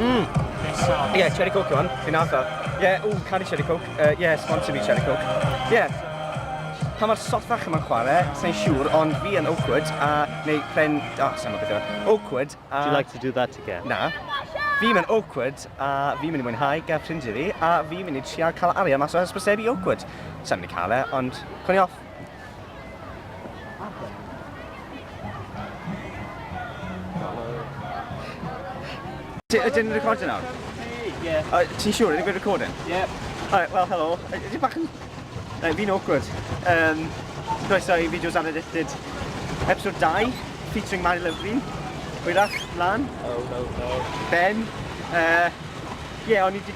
Mmm! Ie, yeah, cherry coke yw hwn, fi'n nath o. Ie, yeah, ww, cari cherry coke. Ie, uh, yeah, sponsor fi cherry coke. Ie. Yeah. Pa mae'r sothach yma'n chwarae, sa'n siŵr, ond fi yn awkward a... Neu pren... O, oh, sa'n gwybod beth Awkward a... Do you like to do that again? Na. Fi mae'n awkward a fi mynd i mwynhau gael ffrindiau fi a fi mynd i trial cael arian mas o hysbysebu awkward. Sa'n mynd i cael e, ond... Cwn i off. Ydyn ni'n recordio nawr? Ie. Ti'n siŵr? Ydy fi'n recording? Ie. Alright, wel, helo. Ydy bach yn... Na, fi'n awkward. Um, Croeso i fideos ar Addicted. Episode 2, featuring Mari Lyfri. Hwyrach, mlaen. Oh, no, no. Ben. Uh, Ie, yeah, o'n i wedi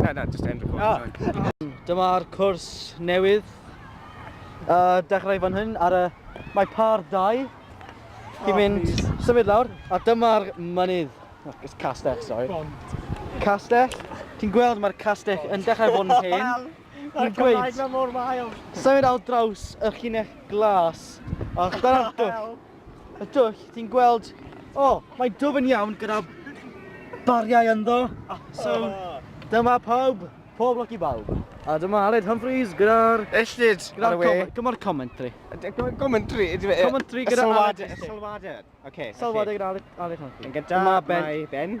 Na, na, just end recording. Ah. Dyma'r cwrs newydd. Uh, dechrau fan hyn ar y... Mae par dau. Chi'n oh, mynd please. symud lawr. A dyma'r mynydd. Oh, it's castell, sorry. Bond. Castell. Ti'n gweld mae'r castell yn dechrau bod yn hen. Mae'r Cymraeg na mor wael. Symud al draws y llinell glas. A dyna'r... y dwll, ti'n gweld, o, oh, mae dwf yn iawn gyda bariau ynddo. Ah, so, dyma pawb, pob lwc i bawb. A dyma Aled Humphreys gyda'r... Ellid, ar y we. Gyda'r commentary. Commentary? Commentary gyda Aled. Salwader. Salwader. Oce. Salwader gyda Aled Humphreys. Gyda mae Ben.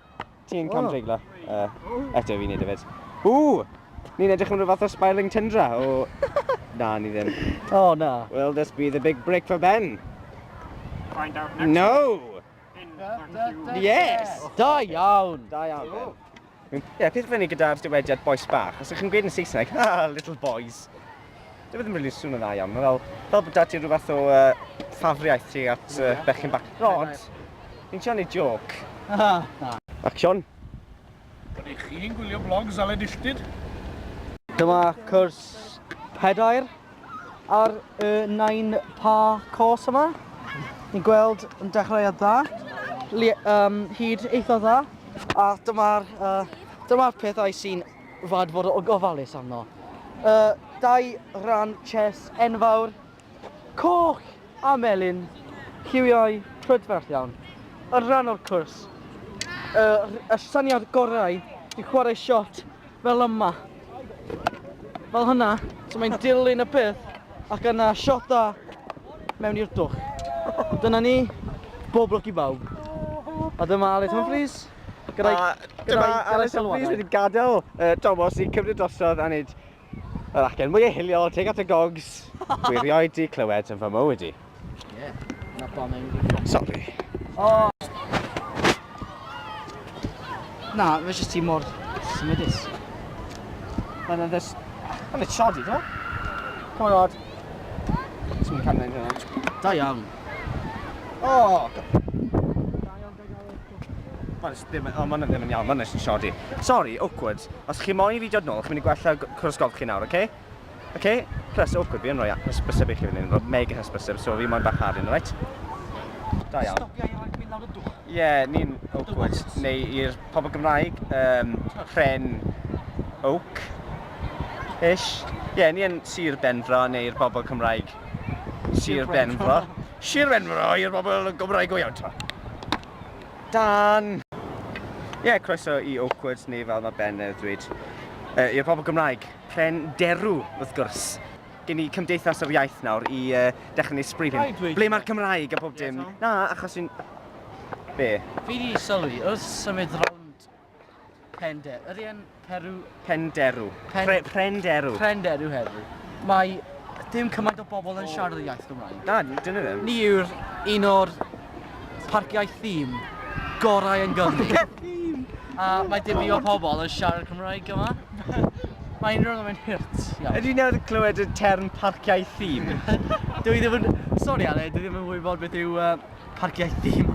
Ti'n cam dreiglo? Uh, eto fi'n neud efyd. O! Ni'n edrych am rhyw fath o spiralling tundra o... na, ni ddim. O, oh, na. Will this be the big break for Ben? Find out next No! Yes! Da iawn! Da iawn, Ben. Ie, yeah, peth fyny gyda'r dywediad boes bach. Os ydych chi'n gweud yn Saesneg, ha, little boys. Dwi ddim really swn yn dda iawn. Mae fel, fel bod dad i'n rhywbeth o uh, ffafriaeth ti at uh, bechyn bach. Rod, ni'n siarad ei joc. Action. Rydych i chi'n gwylio blog Zaled Illtyd? Dyma cwrs pedair ar y nain pa cos yma. Ni'n gweld yn dechrau a dda, um, hyd eitha dda. A dyma'r uh, dyma pethau sy'n rhaid fod o gofalus arno. Y dau ran chess enfawr, coch a melyn, lliwiau prydferth iawn, yn rhan o'r cwrs. Y, y syniad gorau i chwarae shot fel yma. Fel hynna, so mae'n dilyn y peth ac yna shota mewn i'r dwch. Dyna ni, bob lwc i bawb. A dyma Aled Humphreys. Gyda'i... A dyma Alys a Brys wedi gadael uh, Tomos i cymryd drosodd a wneud yr acen mwy hiliol, teg at y gogs. Dwi rioed di clywed yn fy mywyd i. Ie, na pa mewn dwi'n Sorry. O! Na, fe jyst ti mor symudus. Mae'n yn ddys... Mae'n yn siodi, do? Come on, Rod. Ti'n mynd cael mynd hynna. Da iawn. O! Oh, Mae'n jyst ddim, o, mae'n ddim yn iawn, mae'n jyst yn shoddy. Sorry, awkward. Os chi moyn i fi dod nôl, chi'n mynd i gwella cwrs golf chi nawr, oce? Oce? Plus, awkward, fi yn rhoi hysbyseb i chi fan hyn, rhoi mega hysbyseb, so fi moyn bach harin, alright? Da iawn. Stopia i roi mynd lawr y dwch. Ie, ni'n awkward. Neu i'r pobl Gymraeg, um, pren oak, ish. Ie, ni yn Sir Benfro, neu'r bobl Cymraeg, Sir Benfro. Sir Benfro i'r bobl y Gymraeg go iawn t'mo. Dan! Ie, croeso i Oakwood neu fel mae Ben yn dweud yy i'r pobl Gymraeg, pren derw wrth gwrs. Gen i Cymdeithas yr Iaith nawr i yy dechrau neud sbri fi. Ble mae'r Cymraeg a bob dim? Na, achos fi'n... Be? Fi 'di sylwi, wrth symud rownd Pender. Yr un Peru... Penderu. Pen... Pre prenderu. Prenderu heddiw. Mae dim cymaint o bobl yn siarad y iaith Gymraeg. Na, dyn nhw ddim. Ni yw'r un o'r parciau thîm gorau yn Gymru. A mae dim i o pobl yn siarad Cymraeg yma. Mae unrhyw yn mynd hirt. Ydy nawr clywed y term parciau thîm? Dw i ddim yn... Sori Ale, dwi ddim yn wybod beth yw uh, parciau thîm.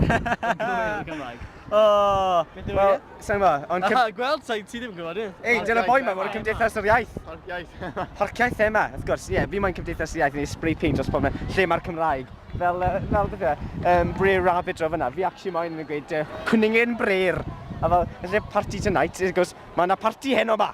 Gymraeg. Oh, wel, sa'n gwybod, ond... Aha, gweld, sa'n ti ddim yn gwybod, ie. Ei, dyna boi ma, mae'n cymdeithas yr iaith. Harciaeth. Harciaeth ema, wrth gwrs, ie, fi mae'n cymdeithas yr iaith yn ei spray paint dros pob lle mae'r Cymraeg. Fel, fel beth yw um, Brer Rabbit dro fyna, fi actually mae'n yn gweud, uh, cwningen brer. A fel, yn lle party tonight, wrth gwrs, mae yna party heno ma.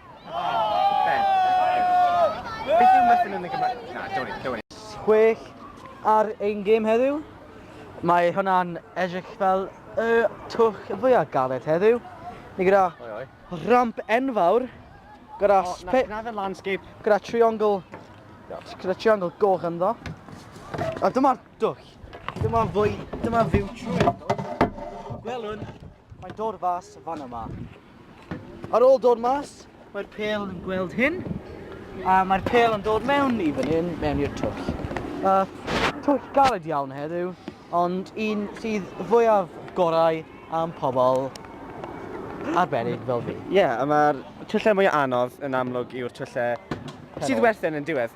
Beth yw muffin yn y Gymraeg? Na, dewni, dewni. Chwech ar ein gêm heddiw. Mae hwnna'n edrych fel y twch fwyaf galed heddiw. Ni gyda ramp enfawr, gyda... O, na, na fe landscape. Gyda triongl, gyda triongl goch ynddo. A dyma'r dwch. Dyma fwy, dyma fyw trwy ynddo. Gwelwn, mae'n dod fas fan yma. Ar ôl dod mas, mae'r pel yn gweld hyn, a mae'r pel yn dod mewn i fan hyn, mewn i'r twll. Uh, twll galed iawn heddiw, ond un sydd fwyaf gorau am pobl arbennig fel fi. Ie, yeah, a mae'r twllau mwy anodd yn amlwg yw'r twllau sydd werthen yn diwedd.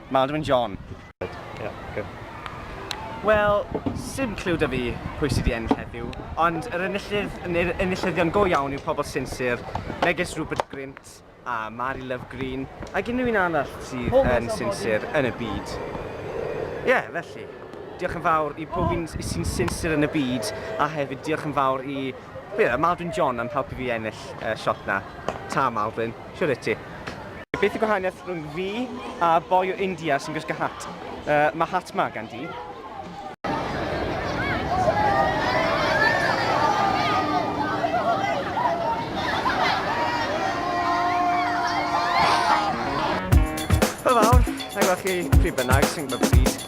Maldwyn John. Wel, sim cliw 'da fi pwy sy 'di ennill heddiw, ond yr enillydd, neu'r enillyddion go iawn yw pobl sinsir, megis Rupert Grint a Mari Love Green, ac unrhyw un arall sydd yn sinsir yn y byd. Ie, felly, diolch yn fawr i pob un sy'n sinsir yn y byd, a hefyd diolch yn fawr i Maldwyn John am helpu fi ennill y siot 'na. Ta, Maldwyn. Shwd wyt ti? Beth y gwahaniaeth rhwng fi a boi o India sy'n gwisgo hat? Uh, mae hat ma gan di. chi pryd bynnag sy'n gwybod beth sydd.